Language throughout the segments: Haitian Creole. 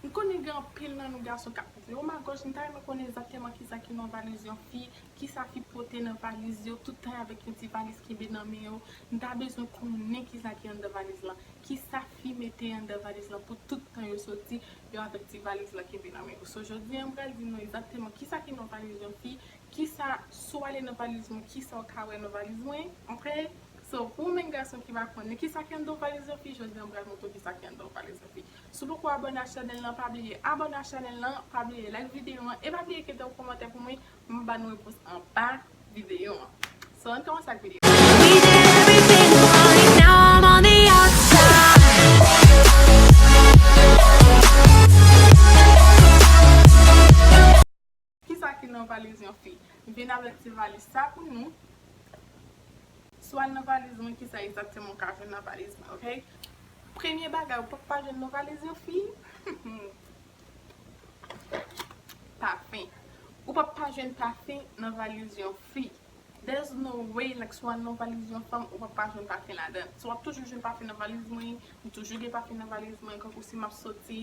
M konnen gen anpil nan nou gason kap koute o ma gòj m ta renmen konnen egzakteman kisa ki nan valiz yon fi, kisa fi pote nan valiz yo, tout tan y avèk yon ti valiz kenbe nan men yo, m ta bezwen konnen kisa ki anndan valiz lan, kisa fi mete anndan valiz lan pou tout tan yo soti yo avèk ti valiz lan kenbe nan men yo, so jodi an m pral di nou egzakteman kisa ki nan valiz yon fi, kisa si w ale nan valiz mwen kisa w ka wè nan valiz mwen ok, so pou ou menm gason ki pa konnen kisa ki anndan yon valiz yon fi jodi an m pral montre w kisa ki anndan yon valiz yon fi, Si w poko abone ak chanèl lan pa bliye abone ak chanèl lan, pa bliye like videyo an e pa bliye kite yon kòmantè pou mwen pou m ba nou repons anba videyo an. So ann kòmanse ak videyo an. Kisa ki nan valiz yon fi? M vin avèk ti valiz sa pou nou. Si w al nan valiz mwen kisa egzakteman w ka jwenn nan valiz mwen ok. Premye bagay ou pap pa jwenn nan valiz yon fi, pafen. Ou pap pa jwenn pafen nan valiz yon fi. There's no way like si w al nan valiz yon fanm ou pap pa jwenn pafen ladan. So w ap toujou jwenn pafen nan valiz mwen, m toujou gen pafen nan valiz mwen. Kankou si m ap soti,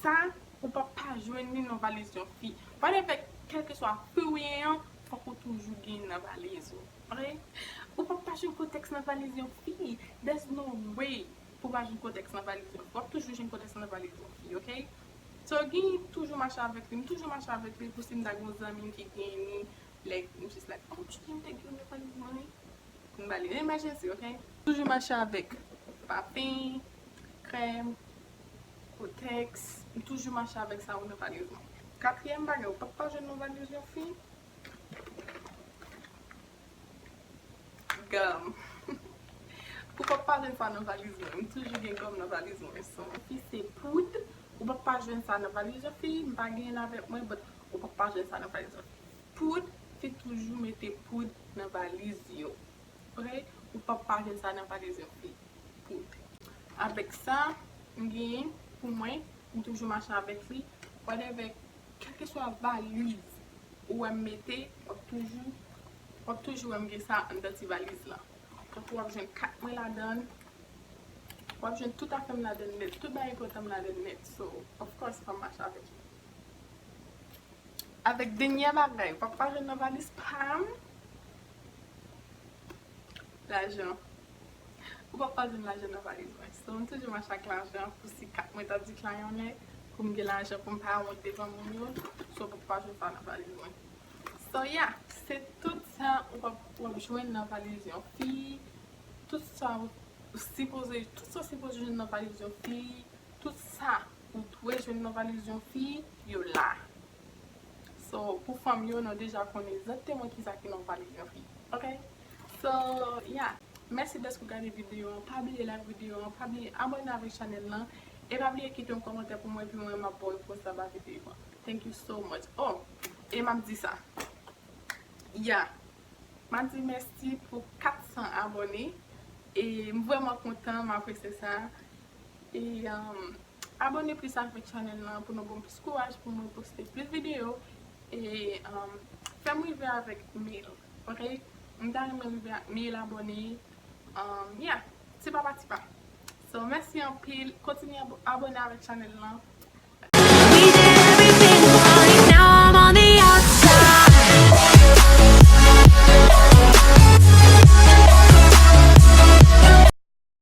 Sa ou pap pa jwenn li nan valiz yon fi. Whatever, kelkeswa fi ou ye an, fòk ou toujou gen li nan valiz ou. Ok? Ou pap pa jwenn kotèks nan valiz yon fi. There's no way pou pa jwenn kotèks nan valiz yon fi. Wap toujou jwenn kotèks nan valiz yon fi. Ok? So gen li toujou mache avèk li. M toujou mache avèk li pou si m ta gen yon zanmi m ki gen li, like, m just like, oh cheri m te gen li nan valiz mwen wi. M ba li yon emergency ok. Toujou mache avèk pafen, krèm, kotèks. M toujou mache avèk sa yo nan valiz mwen. Katriyèm bagay ou pap pa jwenn nan valiz yon fi. Gòm. Ou pap pa jwenn sa nan valiz mwen. M toujou gen gòm nan valiz mwen. Son yon fi se poud. Ou pap pa jwenn sa nan valiz yon fi. M pa genyen l avèk mwen but ou pap pa jwenn sa nan valiz yon fi. Poud, te toujou mete poud nan valiz yo. Pre, ou p ap pa jwenn sa nan valiz yon fi. Poud. Avèk sa m genyen pou mwen, m toujou mache avèk li. Whatever, kèlkeswa valiz ou wè m mete, w ap toujou, w ap toujou wè m gen sa anndan ti valiz lan. Tankou w ap jwenn kat mwen ladan l, w ap jwenn tout afè m ladan l nèt, tout bagay enpòtan m ladan l nèt. So, of course fò m mache avèk li. Avèk denyè bagay ou pap pa jwenn nan valiz pam. Lajan. Ou pap pa jwenn lajan nan valiz mwen. So m toujou mache ak lajan pou si ka mwen ta deklayannen pou m gen lajan pou m pa wont devan moun yo. So ou pap pa jwenn sa nan valiz mwen. So ya. Se tout sa ou pap pa jwenn nan valiz yon fi. Tout sa ou sipoze. Tout sa ou sipoze jwenn nan valiz yon fi. Tout sa. Ou dwe jwenn nan valiz yon fi, yo la. So, pou fanm yo, nou deja konnen egzakteman kisa ki nan valiz yon fi. Ok? So, ya. Mèsi dèske ou gade videyo an. Pa bliye like videyo an. Pa bliye abòne avèk chanèl lan. E pa bliye kite yon kòmantè pou mwen epi mwen map baw repons anba videyo an. Thank you so much. Oh! E map di sa. Ya. Map di mèsi pou 400 abòne. E m vrèman kontan, m apresye sa. E abone plis avèk chanèl lan pou nou banm plis kouraj pou mwen poste plis videyo e fèm rive avèk mil ok m ta renmen rive ak mil abone ya ti pa pa ti pa so mèsi anpil kontinye abone avèk chanèl lan.